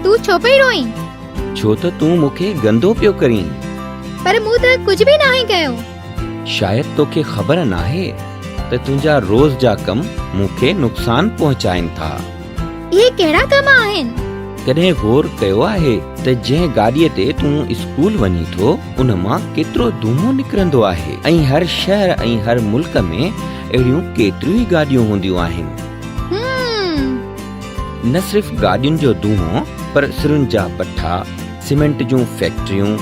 تون ڇو پئي روئين؟ ڇو ته تون مون کي گندو پيو ڪرين. پر مون ته ڪجهه به ناهي ڪيو. شايد توکي خبر ناهي ته تنهنجا روز جا ڪم مون کي نقصان پهچائين ٿا. اهي ڪهڙا ڪم آهن؟ ڪڏهن غور ڪيو آهي ته جنهن گاڏيء تي تون اسڪول وڃين ٿو، ان مان ڪيترو دونهون نڪرندو آهي ۽ هر شهر ۽ هر ملڪ ۾ اهڙيون ڪيتريون ئي گاڏيون هونديون آهن. نه صرف گاڏين جو دونهون پر سرن جا بٺا، سيمينٽ جون فيڪٽريون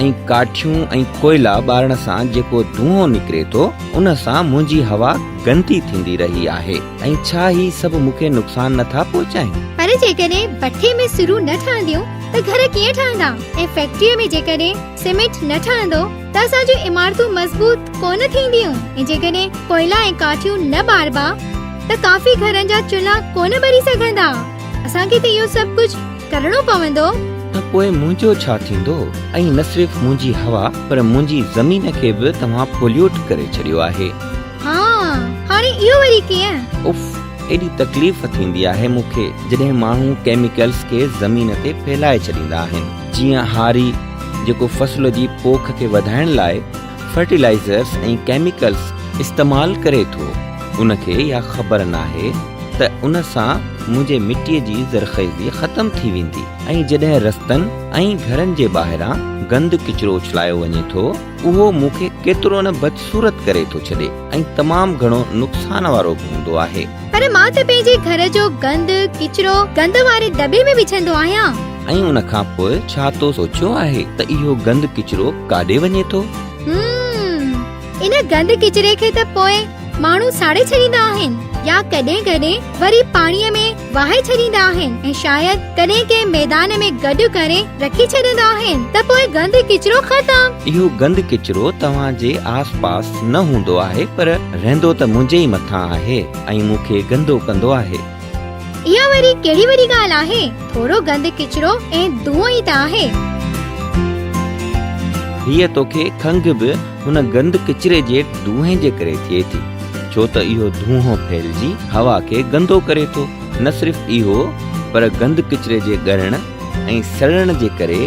۽ ڪاٺيون ۽ ڪوئلا ٻارڻ سان جيڪو دونهون نڪري ٿو ان سان منهنجي هوا گندي ٿيندي رهي آهي ۽ ڇا هي سڀ مون کي نقصان نه ٿا پهچائين؟ پر جيڪڏهن بٺي ۾ سرون نه ٺهنديون ته گهر ڪيئن ٺهندا ۽ فيڪٽريء ۾ جيڪڏهن سيمينٽ نه ٺهندو ته اسان جون عمارتون مضبوط ڪونه ٿينديون ۽ جيڪڏهن ڪوئلا ۽ ڪاٺيون نه ٻاربا ته ڪافي گهرن جا چلها ڪونه ٻري سگهندا. اسان کي ته اهو سڀ ڪجهه ڪرڻو پوندو. ته پوء منهنجو ڇا ٿيندو؟ ۽ نه صرف منهنجي هوا پر منهنجي زمين کي به توهان پوليوٽ ڪري ڇڏيو آهي. ها، هاڻي اهو وري ڪيئن؟ اف، ايڏي تڪليف ٿيندي آهي مون کي جڏهن ماڻهو ڪيميڪلز کي زمين تي ڦهلائي ڇڏيندا آهن. جيئن هاري جيڪو فصل جي پوک کي وڌائڻ لاء فرٽيلائيزرز ۽ ڪيميڪلز استعمال ڪري ٿو ان کي اها خبر ناهي ته ان سان منهنجي مٽي جي زرخيزي ختم ٿي ويندي ۽ جڏهن رستن ۽ گهرن جي ٻاهران گند ڪچرو اڇلايو وڃي ٿو اهو مون کي ڪيترو نه بدصورت ڪري ٿو ڇڏي ۽ تمام گهڻو نقصان وارو به هوندو آهي. پر مان ته پنهنجي گهر جو گند ڪچرو گند واري دٻي ۾ وجهندو آهيان. ۽ ان کان پوء ڇا تو سوچيو آهي ته اهو گند ڪچرو ڪاڏي وڃي ٿو؟ همم، ان گند ڪچري کي ته پوء ماڻهو ساڙي ڇڏيندا آهن يا ڪڏهن ڪڏهن وري پاڻيء ۾ وهائي ڇڏيندا آهن ۽ شايد ڪڏهن ڪنهن ميدان ۾ گڏ ڪري رکي ڇڏيندا آهن ته پوء گند ڪچرو ختم. اهو گند ڪچرو توهان جي آس پاس نه هوندو آهي پر رهندو ته منهنجي ئي مٿان آهي ۽ مون کي گندو ڪندو آهي. اها وري ڪهڙي وڏي ڳالهه آهي، ٿورو گند ڪچرو ۽ دونهون ئي ته آهي. ڌيء توکي کنگهه به هن گند ڪچري جي دونهين جي ڪري ٿئي ٿي، ڇو ته اهو دونهون ڦهلجي هوا کي گندو ڪري ٿو، نه صرف اهو پر گند ڪچري جي ڳرڻ ۽ سڙڻ جي ڪري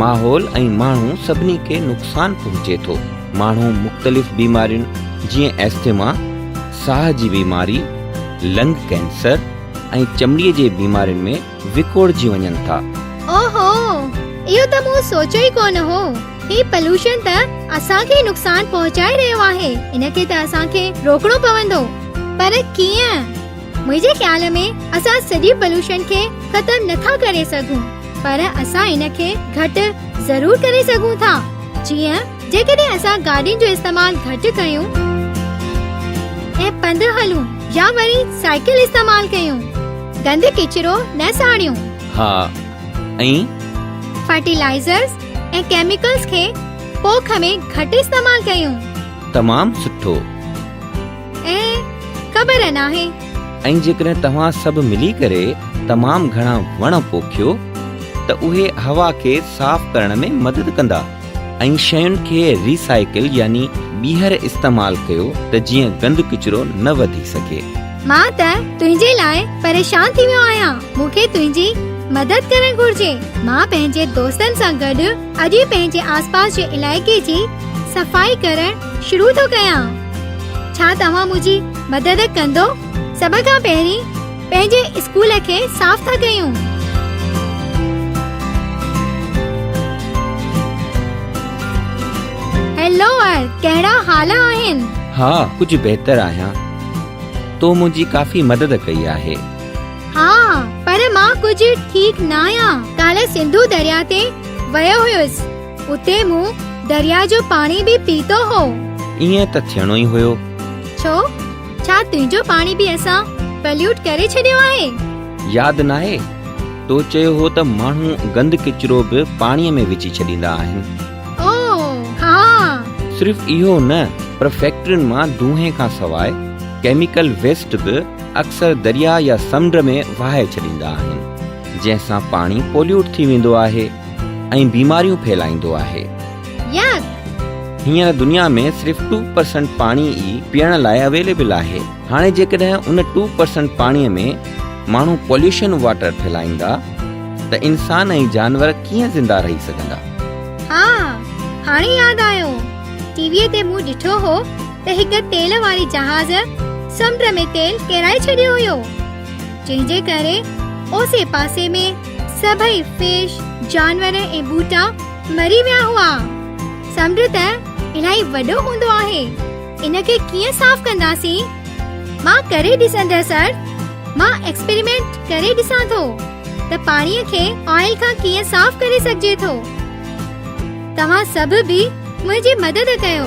ماحول ۽ ماڻهو سڀني کي نقصان پهچي ٿو، ماڻهو مختلف بيمارين جيئن ايسٿما، ساهه جي بيماري، لنگ ڪينسر ۽ چمڙي جي بيمارين ۾ وڪوڙجي وڃن ٿا. او هو! اهو ته مون سوچيو ئي ڪونه هو. هي پلوشن ته اسان کي ئي نقصان پهچائي رهيو آهي. ان کي ته اسان کي روڪڻو پوندو. پر ڪيئن؟ منهنجي خيال ۾ اسان سڄي پلوشن کي ختم نه ٿا ڪري سگهون پر اسان ان کي گهٽ ضرور ڪري سگهون ٿا. جيئن. جيڪڏهن اسان گاڏين جو استعمال گهٽ ڪيون ۽ پنڌ هلون يا وري سائيڪل استعمال ڪيون، گند ڪچرو نه ساڙيون. ها ۽. فرٽيلائيزرز ۽ ڪيميڪلز کي پوک ۾ گهٽ استعمال ڪيون. تمام سٺو. ۽ خبر ناهي. ۽ جيڪڏهن توهان سڀ ملي ڪري تمام گهڻا وڻ پوکيو ته اهي هوا کي صاف ڪرڻ ۾ مدد ڪندا. ۽ شين کي ري سائيڪل يعني ٻيهر استعمال ڪيو ته جيئن گند ڪچرو نه وڌي سگهي. مان ته تنهنجي لاء پريشان ٿي ويو آهيان مون کي تنهنجي مدد ڪرڻ گهرجي مان پنهنجي دوستن سان گڏ اڄ ئي پنهنجي آسپاس جي علائقي جي صفائي ڪرڻ شروع ٿو ڪيان ڇا توهان منهنجي مدد ڪندو سڀ کان پهرين پنهنجي اسڪول کي صاف ٿا ڪيون. هيلو ار ڪهڙا حال آهن. ها ڪجهه بهتر آهيان تو منهنجي ڪافي مدد ڪئي آهي. ها پر مان ڪجهه ٺيڪ ناهيان. ڪالهه سنڌو درياء تي ويو هيس اتي مون درياء جو پاڻي به پيتو هو. ائين ته ٿيڻو ئي هيو. ڇو؟ ڇا تنهنجو پاڻي به اسان پليوٽ ڪري ڇڏيو آهي؟ ياد ناهي تو چيو هو ته ماڻهو گند ڪچرو به پاڻي ۾ وجهي ڇڏيندا آهن. او ها. صرف اهو نه پر فيڪٽرين مان دونهين کان سواء ڪيميڪل ويسٽ به اڪثر درياء يا سمنڊ ۾ وهائي ڇڏيندا آهن جنهن سان پاڻي پوليوٽ ٿي ويندو آهي ۽ بيماريون ڦهلائيندو آهي. يڪ. هينئر دنيا ۾ صرف ٽو پرسنٽ پاڻي ئي پيئڻ لاء اويليبل آهي. هاڻي جيڪڏهن ان ٽو پرسنٽ پاڻي ۾ ماڻهو پوليوشن واٽر ڦهلائيندا ته انسان ۽ جانور ڪيئن زنده رهي سگهندا؟ ها هاڻي ياد آيو ٽي وي تي مون ڏٺو هو ته هڪ تيل واري جهاز سمنڊ ۾ تيل ڪيرائي ڇڏيو هيو جنهن جي ڪري اوسي پاسي ۾ سڀئي فش جانور ۽ ٻوٽا مري ويا هئا. سمنڊ ته الاهي وڏو هوندو آهي، ان کي ڪيئن صاف ڪنداسين؟ مان ڪري ڏسندس سر. مان ايڪسپيريمينٽ ڪري ڏسان ٿو ته پاڻي کي آئل کان ڪيئن صاف ڪري سگهجي ٿو. توهان سڀ به منهنجي مدد ڪيو.